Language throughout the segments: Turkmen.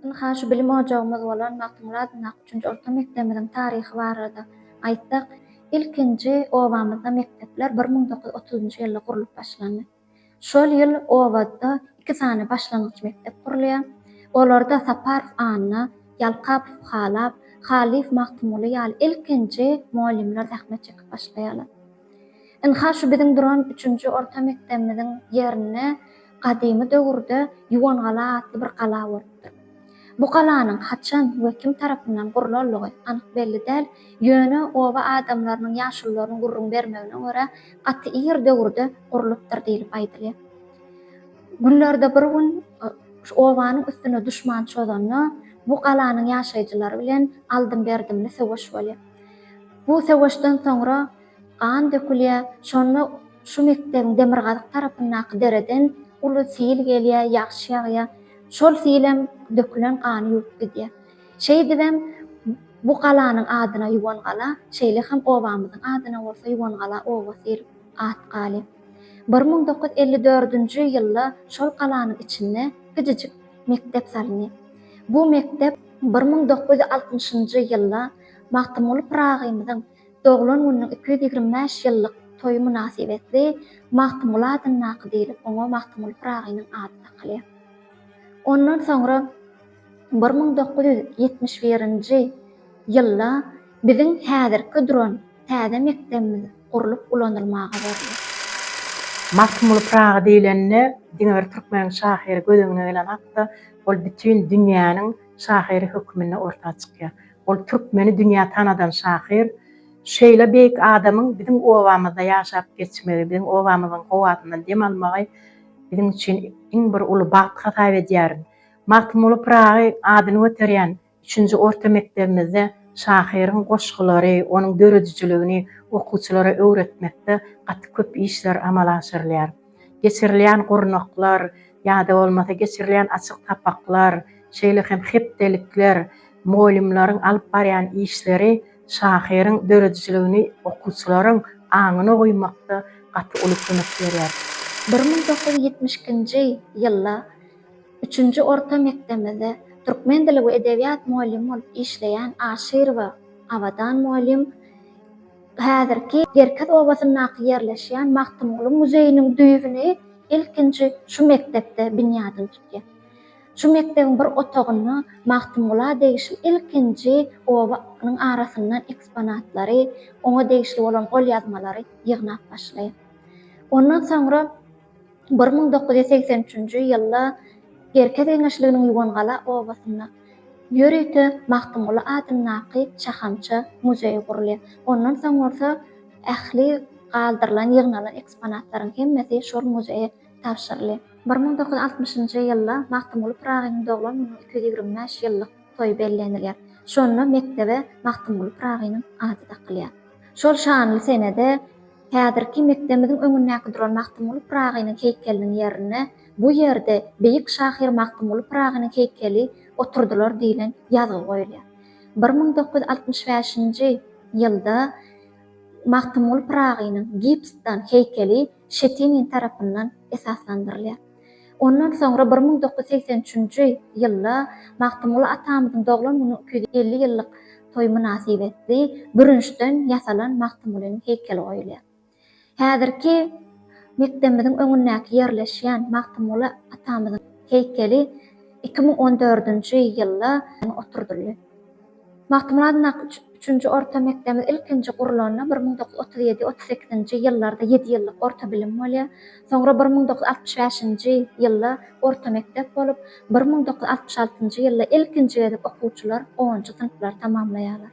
Ynha şu bilim ojagymyz bolan Magtymguly adyndaky üçünji orta mekdebimiziň taryhy barada aýtsak, ilkinji obamyzda mekdepler bir müň dokuz ýüz otuzynjy ýylda gurlup başlandy. Şol ýyl obada iki sany başlangyç mekdep gurulýar. Olarda Saparow Anna, Ýalkapow Halap, Halyýew Magtymguly ýaly ilkinji mugallymlar zähmet çekip başlaýarlar. Ynha şu biziň duran üçünji orta mekdebimiziň ýerinde gadymy döwürde Ýuwangala atly bir gala bolupdyr. Bu galanyň haçan we kim tarapyndan gurlanlygy anyk belli däl, ýöne oba adamlarynyň ýaşulularyň gürrüň bermegine görä, gaty ir döwürde gurlupdyr diýlip aýdylýar. Günlerde bir gün şu obanyň üstüne duşman çozanda, bu galanyň ýaşaýjylary bilen aldym-berdimli söweş bolýar. Bu söweşden soňra Gan dökülýär, şonda şu mekdebiň demirgazyk tarapyndaky dereden uly sil gelýär, ýagşy ýagýar. Şol silem dökülen gany ýuwup gidýär. Şeýdibem bu galanyň adyna Ýuwangala, şeýle hem obamyzyň adyna bolsa Ýuwangala obasy diýlip at galyp. Bir müň dokuz ýüz elli dördünji ýylda şol galanyň içinde kiçijik mekdep salyndy. Bu mekdep bir müň dokuz ýüz altmyşynjy ýylda Magtymguly Pyragymyzyň Doglan gününiň iki ýüz ýigrimi bäş ýyllyk toýy mynasybetli Magtymguly adyndaky diýlip oňa Magtymguly Pyragynyň ady dakylýar. Ondan soňra bir müň dokuz ýüz ýetmiş birinji ýylda biziň häzirki duran täze mekdebimiz gurlup ulanylmaga berildi. Magtymguly Pyragy diýlende diňe bir türkmeniň şahyry göz öňüne gelen hakda ol bütin dünýäniň şahyry höküminde orta çykýar. Ol türkmeni dünýä tanadan şahyr. Şeýle beýik adamyň biziň obamyzda ýaşap geçmegi, biziň obamyzyň howasyndan dem almagy biziň üçin iň bir uly bagt hasap edýärin. Magtymguly Pyragy adyny göterýän üçünji orta mekdebimizde şahyryň goşgulary, onuň döredijiligini okuwçylara öwretmekde gaty köp işler amala aşyrylýar. geçirilýän gurnaklar ýa-da bolmasa geçirilýän açyk sapaklar, şeýle hem hepdelikler, mugallymlaryň alyp barýan işleri şahyryň döredijiligini okuwçylaryň aňyna guýmakda gaty uly kömek berýär. Bir müň dokuz ýüz ýetmiş ikinji ýylda üçünji orta mekdebimizde türkmen dili we edebiýat mugallymy bolup işleýän Aşyrowa Abadan mugallym, Häzirki Gerkez obasyndaky ýerleşýän Magtymguly muzeýiniň düýbüni ilkinji şu mekdepde binýadyny tutýar. Şu mekdebiň bir otagynda Magtymgula degişli ilkinji obanyň arasyndan eksponatlary, oňa degişli bolan golýazmalary ýygnap başlaýar. Ondan soňra. Bir müň dokuz ýüz segsen üçünji ýylda Gerkez geňeşliginiň Ýuwangala obasynda ýörite Magtymguly adyndaky şahamça muzeý gurulýar. Ondan soň bolsa ähli galdyrylan, ýygnalan eksponatlaryň hemmesi şol muzeýe tabşyrylýar. Bir müň dokuz ýüz altmyşynjy ýylda Magtymguly Pyragynyň doglan gününiň iki ýüz ýigrimi bäş ýyllyk toýy bellenilýär. Şonda mekdebe Magtymguly Pyragynyň ady dakylýar. Şol şanly senede Häzirki mekdemiziň öňündäki duran Magtymguly Pyragynyň heýkeliniň ýerine bu ýerde beýik şahyr Magtymguly Pyragynyň heýkeli oturdylar diýlen ýazgy goýulýar. Bir müň dokuz ýüz altmyş bäşinji ýylda Magtymguly Pyragynyň gipsdan heýkeli Şetinin tarapyndan esaslandyrylýar. Ondan soňra bir müň dokuz ýüz segsen üçünji ýylda Magtymguly atamyzyň doglan günüň iki ýüz elli ýyllyk toýy mynasybetli bürünçden ýasalan Magtymgulynyň heýkeli goýulýar. Häzirki mekdebimiziň öňündäki ýerleşýän Magtymguly atamyzyň heýkeli iki müň on dördünji ýylda oturdyldy. Magtymguly Nak üçünji orta mekdebiň ilkinji gurlanda bir müň dokuz ýüz otuz ýedi, otuz sekizinji ýyllarda ýedi ýyllyk orta bilim bolýar. Soňra bir müň dokuz ýüz altmyş bäşinji ýylda orta mekdep bolup, bir müň dokuz ýüz altmyş altynjy ýylda ilkinji gezek okuwçylar onunjy synplary tamamlaýarlar.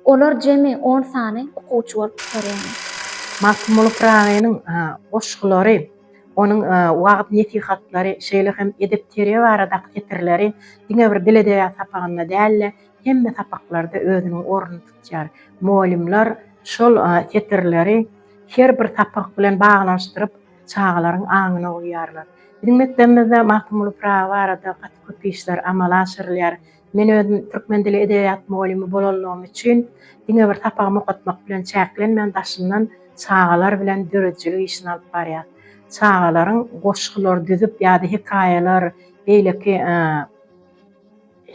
Olar jemi on sany okuwçy bolup gutarýarlar. Magtymguly Pyragynyň goşgulary. Onuň wagyz-nesihatlary, şeýle hem edep-terbiýe baradaky setirleri diňe bir dil edebiýat sapagynda däl-de, hemme sapaklarda özüniň ornuny tutýar. Mugallymlar şol setirleri her bir sapak bilen baglanyşdyryp, çagalaryň aňyna guýýarlar. Biziň mekdebimizde Magtymguly Pyragy barada gaty köp işler amala aşyrylýar. Men özüm türkmen dili edebiýat mugallymy bolanlygym üçin diňe bir sapagymy okatmak bilen çäklenmän daşyndan çagalar bilen döredijilik işini alyp barýar. Çagalaryň goşgular düzüp ýa-da hekaýalar, beýleki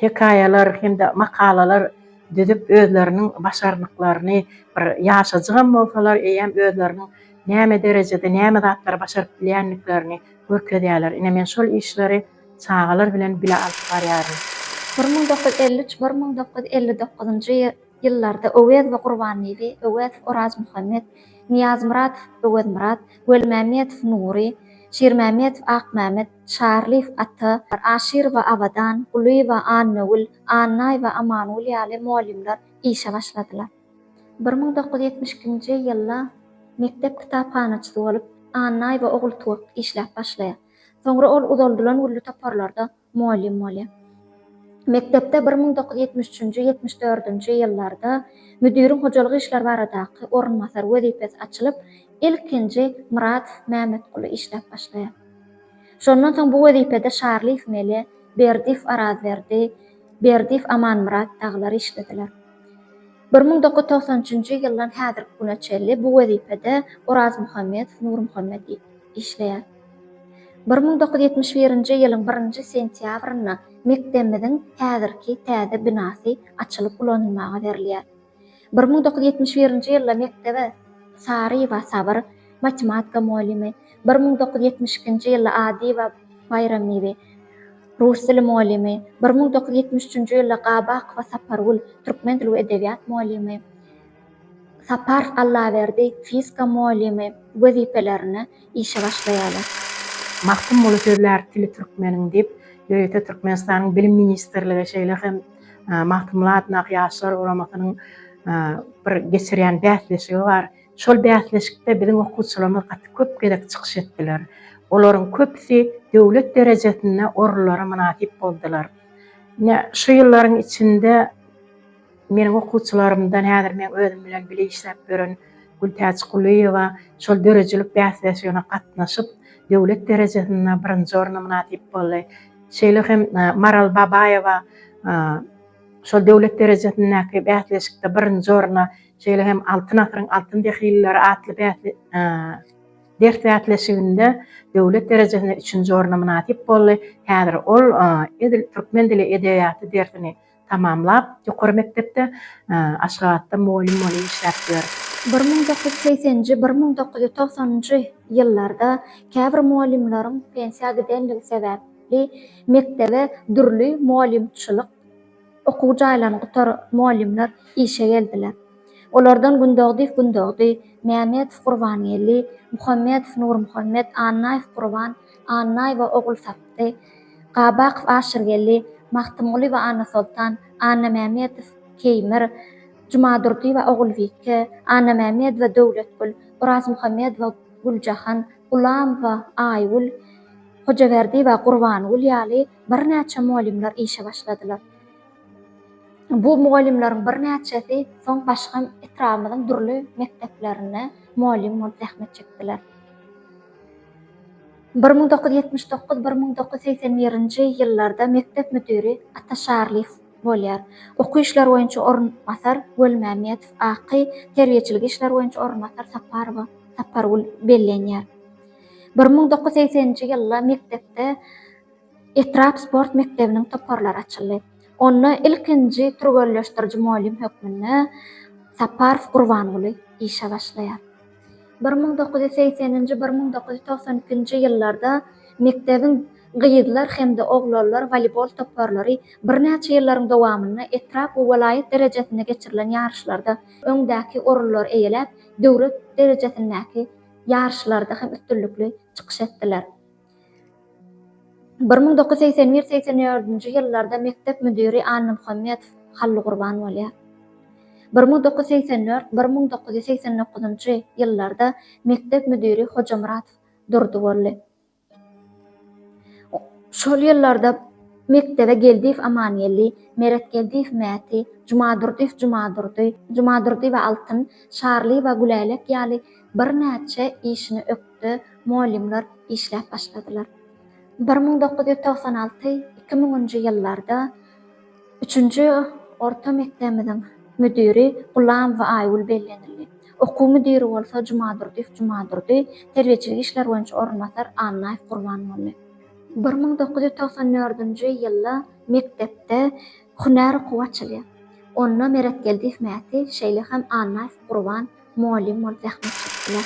hekaýalar hem-de makalalar düzüp özleriniň başarnyklaryny bir ýaşajygam bolsalar eýýäm özleriniň näme derejede näme zatlary başaryp bilýändiklerini görkezýärler. Ine men şol işleri Çagalar bilen bile alyp barýaryn. Bir müň dokuz ýüz elli üç, bir müň dokuz ýüz elli dokuzynjy ýyllarda Öwez we Gurbanlyby, Öwezow, Orazmuhammet, Nyýazmyradow, Öwezmyrat, Welimämmedow, Nury, Şirmämmedow, Akmämmet, Çarlyýew, Ata, Aşyrowa, Abadan, Gulyýewa, Annagül, Annaýewa, Amangül ýaly mugallymlar işe başladylar. Bir müň dokuz ýüz ýetmiş ikinji ýylda mekdep kitaphanaçysy bolup, Annaýewa Ogultuwak işläp başlaýar. Soňra ol uzaldylan gülli toparlarda mugallym bolýar. Mekdepde bir müň dokuz ýüz ýetmiş üçünji, ýetmiş dördünji ýyllarda müdiriň hojalyk işleri baradaky orunbasary wezipesi açylyp, ilkinji Myrat Mämmetguly işläp başlaýar. Şondan soň bu wezipede Şarlyýew Mele, Berdiýew Arazberdi, Berdiýew Amanmyrat dagylar işlediler. Bir müň dokuz ýüz togsan üçünji ýyldan häzirki güne çenli bu wezipede Orazmuhammedow Nurmuhammet işleýär. Bir müň dokuz ýüz ýetmiş birinji ýylyň birinji sentýabrynda mekdebimiziň häzirki täze binasy açylyp ulanylmaga berilýär. Bir müň dokuz ýüz ýetmiş birinji ýylda mekdebe Saryýewa Sabyr, matematika mugallymy, bir müň dokuz ýüz ýetmiş ikinji ýylda Adyýewa Baýramnibi, rus dili mugallymy, bir müň dokuz ýüz ýetmiş üçünji ýylda Gabakowa Sapargül, türkmen dili we edebiýat mugallymy, Sapar Allaberdi fizika mugallymy wezipelerine işe başlaýarlar. Magtym Molla sözlär tili türkmeniň diýip, ýörite Türkmenistanyň Bilim ministrligi şeýle hem Magtymguly Adyndaky Ýaşlar guramasynyň bir geçirýän bäsleşigi bar. Şol bäsleşikde biziň okuwçylarymyz gaty köp gezek çykyş etdiler. Olaryň köpüsi döwlet derejesinde orunlara mynasyp boldular. Ine, şu ýyllaryň içinde. Meniň okuwçylarymdan häzir meň özüm bilen bile işläp ýören Gültäç Kulyýewa şol döredijilik bäsleşigine gatnaşyp, döwlet derejesinde birinji orna mynasyp boldy. Şeýle hem Maral Babaýewa şol döwlet derejesindäki bäsleşikde birinji orna, şeýle hem Altyn asyryň altyn dehlileri atly ders bäsleşiginde döwlet derejesinde üçünji orna mynasyp boldy. Häzir ol edil türkmen dili edebiýaty dersini tamamlap, ýokary mekdepde Aşgabatda mugallym bolup işläpdir. Bir müň dokuz ýüz segseninji, bir müň dokuz ýüz togsanynjy ýyllarda käbir mugallymlaryň pensiýa gidenligi sebäpli mekdebe dürli mugallymçylyk okuw jaýlaryny gutaran mugallymlar işe geldiler. Olardan Gündogdyýew Gündogdy, Mämmedow Gurbangeldi, Muhammedow Nurmuhammet, Annaýew Gurban, Annaýewa, Ogulsapdy, Gabakow, Aşyrgeldi, Magtymgulyýewa, Annasoltan, Annamämmedow, Keýmir, Jumadurdyýewa, Ogulbike, Annamämmedowa, Döwletgül, Orazmuhammedowa, Güljahan, Gulamowa, Aýgül, Hojaberdiýewa, Gurbangül ýaly birnäçe mugallymlar işe başladylar. Bu mugallymlaryň birnäçesi soň başga etrabymyzyň dürli mekdeplerinde mugallym bolup zähmet çekdiler. Bir müň dokuz ýüz ýetmiş dokuz, bir müň dokuz ýüz segsen birinji ýyllarda mekdep müdiri Ataşarlyýew bolýar. Okuw işleri boýunça orunbasar Welimämmedow, Aky, terbiýeçilik işleri boýunça orunbasar Saparowa, Sapargül, bellenýär. Bir müň dokuz ýüz segseninji ýylda mekdepde. Etrap sport mekdebiniň toparlary açyldy. Onda ilkinji türgenleşdiriji mugallym hökmünde Saparow Gurbanguly işe başlaýar. Bir müň dokuz ýüz segseninji, bir müň dokuz ýüz togsan ikinji ýyllarda mekdebiň gyzlar hem-de oglanlar woleýbol toparlary birnäçe ýyllaryň dowamynda etrap we welaýat derejesinde geçirilen ýaryşlarda öňdäki orunlary eýeläp, döwlet derejesindäki ýaryşlarda hem üstünlikli çykyş etdiler. Bir müň dokuz ýüz segsen bir, segsen dördünji ýyllarda mekdep müdiri Annamuhammedow Hallygurban bolýar. Bir müň dokuz ýüz segsen dört, bir müň dokuz ýüz segsen dokuzynjy ýyllarda mekdep müdiri Hojamuratow Durdy boldy. Şol ýyllarda mekdebe Geldiýew Amangeldi, Meretgeldiýew Mäti, Jumadurdyýew Jumadurdy, Jumadurdyýewa Altyn, Şarlyýewa Gülälek ýaly Birnäçe işini ökde mugallymlar işläp başladylar. Bir müň dokuz ýüz togsan alty, iki müňünji ýyllarda üçünji orta mekdebimiziň müdiri Gulamowa Aýgül bellenildi. Okuw müdiri bolsa Jumadurdyýew Jumadurdy, terbiýeçilik işleri boýunça orunbasar Annaýew Gurbanguly. Bir müň dokuz ýüz togsan dördünji ýylda mekdepde hünär okuwy açylýar. Onda Meretgeldiýew Mäti, şeýle hem Annaýew Gurban, Mugallym bolup zähmet çekdiler.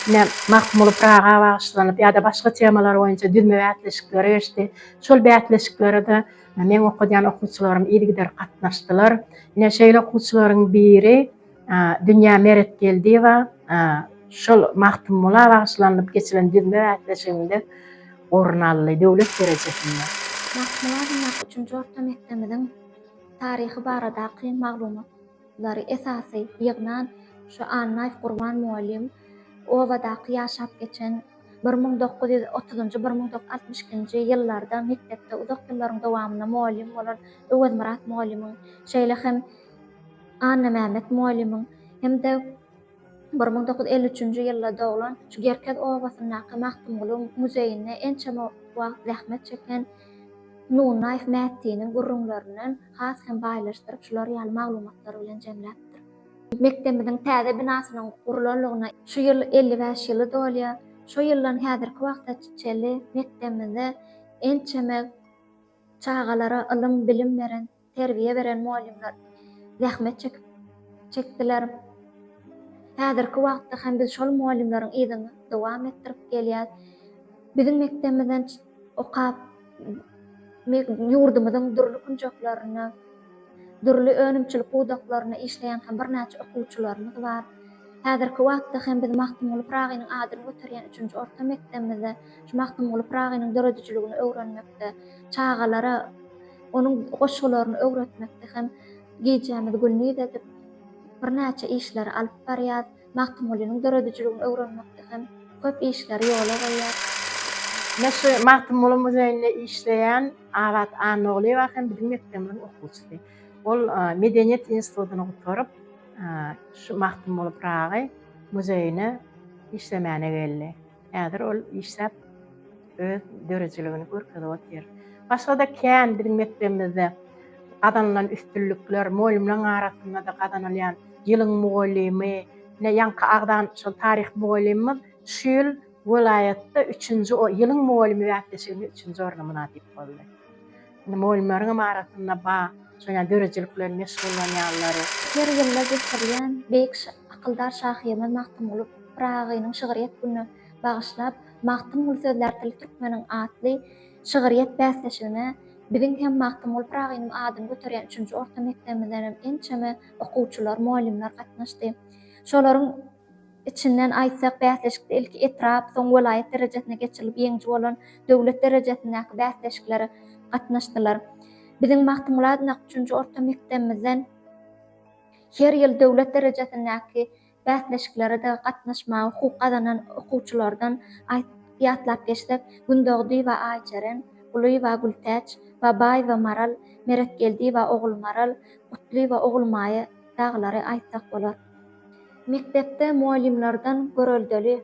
Ine, Magtymguly Pyraga bagyşlanyp ýa-da başga temalar boýunça düzme bäsleşikleri geçdi. Şol bäsleşiklere-de meň okadýan okuwçylarym yzygider gatnaşdylar. Ine, şeýle okuwçylaryň biri Dünýä Meretgeldiýewa şol Magtymgula bagyşlanylyp geçilen düzme bäsleşiginde orun aldy, döwlet derejesinde. Magtymgula adyndaky üçünji orta mekdebimiziň taryhy baradaky maglumat. Lary esasy ýygnan şu Annaýew Gurban mugallym obadaky ýaşap geçen bir müň dokuz ýüz otuzynjy, bir müň dokuz ýüz altmyş ikinji ýyllarda mekdepde uzak ýyllaryň dowamynda mugallym bolan Öwezmyrat mugallymyň, şeýle hem Annamämmet mugallymyň hem-de Bir müň dokuz ýüz elli üçünji ýylda doglan, şu Gerkez obasyndaky Magtymgulyň muzeýinde ençeme wagt zähmet çeken Nunnaýew Mättiniň gürrüňlerinden has hem baýlaşdyryp, şular ýaly maglumatlar bilen jemläpdir. Mekdebimiziň täze binasynyň gurlanlygyna şu ýyl elli bäş ýyly dolýar. Şo ýyldan häzirki wagta çenli mekdebimizde ençeme çagalara ylym-bilim beren, Terbiýe beren mugallymlar zähmet çekip çekdiler. Häzirki wagtda hem biz şol mugallymlaryň yzyny dowam etdirip gelýäs. Biziň mekdebimizden okap, ýurdumyzyň dürli künjeklerine, dürli önümçilik pudaklaryna işleýän hem birnäçe okuwçylarymyz bar. Häzirki wagtda hem biz Magtymguly Pyragynyň adyny göterýän üçünji orta mekdebimizde şu Magtymguly Pyragynyň döredijiligini öwrenmekde, çagalara, Onuň goşgularyny öwretmekde hem gijämizi gündiz edip, birnäçe işleri alyp barýas. Magtymgulynyň döredijiligini öwrenmekde hem köp işleri ýola goýýas. Ine şu Magtymguly muzeýinde işleýän Abat Annagulyýewa hem biziň mekdebimiziň okuwçysy. Ol Medeniýet institutyny gutaryp, şu Magtymguly Pyragy muzeýine işlemäne geldi. Häzir ol işläp, öz döredijiligini görkezip otyr. Başga-da kän biziň mekdebimizde gazanylan üstünlikler, mugallymlaryň arasynda-da gazanylýan Ýylyň mugallymy, ine, ýaňky agzan şol taryh mugallymymyz şu ýyl welaýatda üçünji, Ýylyň mugallymy bäsleşiginde üçünji orna mynasyp boldy. Indi mugallymlaryňam arasynda ba, şol ýaly döredijilik bilen meşgullanýanlary. Her ýylda geçirilýän beýik akyldar şahyrymyz Magtymguly Pyragynyň şygryýet gününe bagyşlap Magtymguly sözlär tili türkmeniň atly şygryýet bäsleşigine biziň hem Magtymguly Pyragynyň adyny göterýän üçünji orta mekdebimizdenem ençeme okuwçylar, mugallymlar gatnaşdy. Şolaryň. Içinden aýtsak, bäsleşikde ilki etrap, soň welaýat derejesine geçirilip, ýeňiji bolan döwlet derejesindäki bäsleşiklere gatnaşdylar. Biziň Magtymgulady Nak üçünji orta mekdebimizden her ýyl döwlet derejesindäki bäsleşiklere-de gatnaşmaga hukuk gazanan okuwçylardan aýtsak, ýatlap geçsek, Gündogdyýewa Aýjeren, Gulyýewa Gültäç, Babaýewa Maral, Meretgeldiýewa Ogulmaral, Gutlyýewa Ogulmaýa dagylary aýtsak bolar. Mekdepde mugallymlardan göreldeli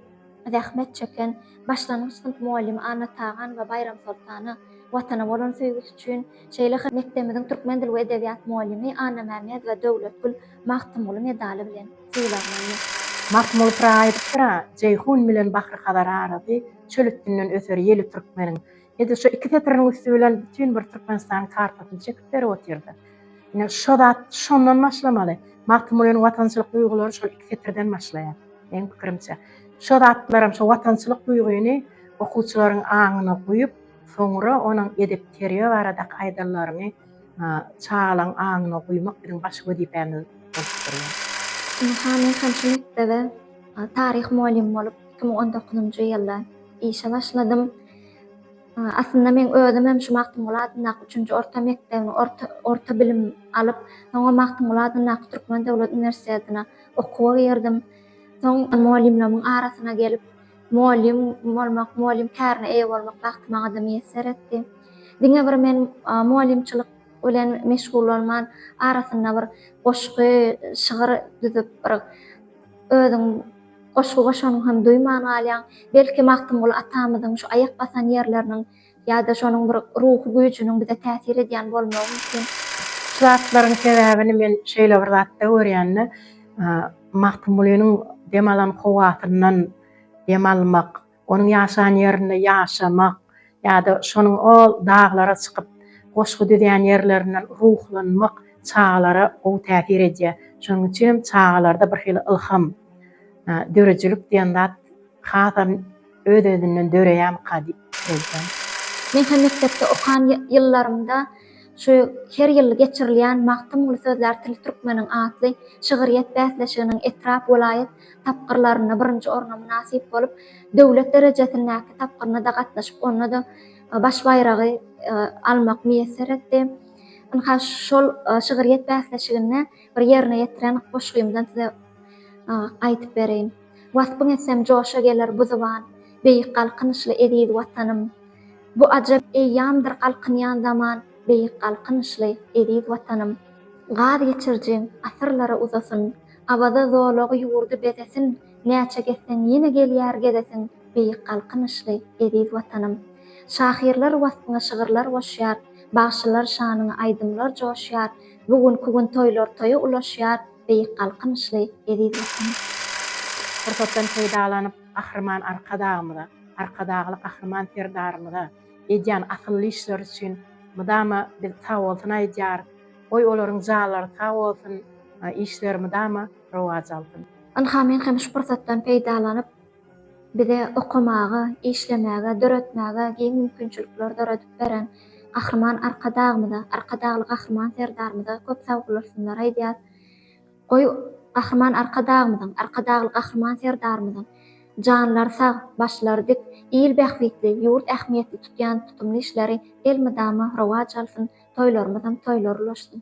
zähmet çeken başlangyç synp mugallymy Anna Tagan we Baýram Soltana Watana bolan söýgüsi üçin, şeýle hem mekdebimiziň türkmen dil we edebiýat mugallymy Annamämmedow we Döwletgül Magtymguly medaly bilen sylaglandy. Magtymguly Pyragyýewdir-a, Jeýhun bilen Bahry-Hazar arasy, Çöl üstünden öser ýeli türkmeniň. Edil şu iki setiriniň üsti bilen bütin bir Türkmenistanyň kartasyny çekip berip otyrdy. Ine, şo zat şondan başlamaly. Magtymgulynyň watançylyk duýgulary şol iki setirden başlaýar, meň pikirimçe. Şo zatlaram, şo watançylyk duýgyny okuwçylaryň aňyna guýup, soňra onuň edep-terbiýe baradaky aýdanlaryny çagalaryň aňyna guýmak biziň baş wezipämiz bolup durýar. Ynha, men hem şu mekdebe taryh mugallymy bolup iki müň on dokuzynjy ýylda işe başladym. Aslynda meň özümem şu Magtymguly adyndaky üçünji orta mekdebini orta bilim alyp, soňam Magtymguly adyndaky Türkmen döwlet uniwersitetine okuwa girdim. Soň mugallymlarymyň arasyna gelip, mugallym bolmak, mugallym kärine eýe bolmak bagty maňada miýesser etdi. Diňe bir men mugallymçylyk bilen meşgullanman, arasynda bir goşgy, şygyr düzüp, bir özüň. Goşgy goşanyňy hem duýman galýaň. Belki Magtymguly atamyzyň şu aýak basan ýerleriniň ýa-da şonuň bir ruhy güýjüniň bize täsir edýän bolmagy mümkin. Şu zatlaryň sebäbini men şeýle bir zatda görýän-de, Magtymgulynyň dem alan howasyndan dem almak, Onuň ýaşan ýerinde ýaşamak ýa-da şonuň o daglara çykyp, goşgy düzýän ýerlerinden ruhlanmak çagalara gowy täsir edýär. Şonuň üçin hem çagalarda birhili ylham, döredijilik diýen zat hasam öz-özünden döreýärmika diýip pikir edýän. Men hem mekdepde okan ýyllarymda şu her ýyl geçirilýän Magtymguly sözlär tili türkmeniň atly şygyrýet bäsleşiginiň etrap, welaýat, tapgyrlarynda birinji orna mynasyp bolup, döwlet derejesindäki tapgyryna-da gatnaşyp, onda-da baş baýragy almak miýesser etdi. Ynha, şol şygryýet bäsleşiginde bir ýerine ýetiren goşgymdan size aýdyp bereýin. Waspyň etsem joşa geler bu zyban, Beýik Galkynyşly eziz Watanym! Bu ajap eýýamdyr galkynýan zaman, Beýik Galkynyşly eziz Watanym! Gaz geçirijiň asyrlara uzasyn, Awaza zolagy ýurdy bezesin, Näçe gezseň ýene gelýär gezesin, Beýik Galkynyşly, eziz Watanym. Şahyrlar waspyňa şygyrlar goşýar, Bagşylar şanyňa aýdymlar joşýar, Bu günki gün toýlar toýa ulaşýar, Beýik Galkynyşly, eziz Watanym. Pursatdan peýdalanyp, Gahryman Arkadagymyza, Arkadagly Gahryman Serdarymyza edýän asylly işleri üçin mydama biz sagbolsun aýdýarys. Goý olaryň janlary sag bolsun işleri mydama rowaç alsyn. Ynha men hem şu pursatdan peýdalanyp bize okamaga, işlemäge, döretmäge giň mümkinçilikler döredip beren Gahryman Arkadagymyza, Arkadagly Gahryman Serdarymyza köp sagbolursunlar aýdýas. Goý Gahryman Arkadagymyzyň, Arkadagly Gahryman Serdarymyzyň janlary sag, başlary dik, il bähbitli, ýurt ähmiýetli tutýan tutumly işleri elmydama rowaç alsyn, Toýlarymyzam toýlar ulaşsyn.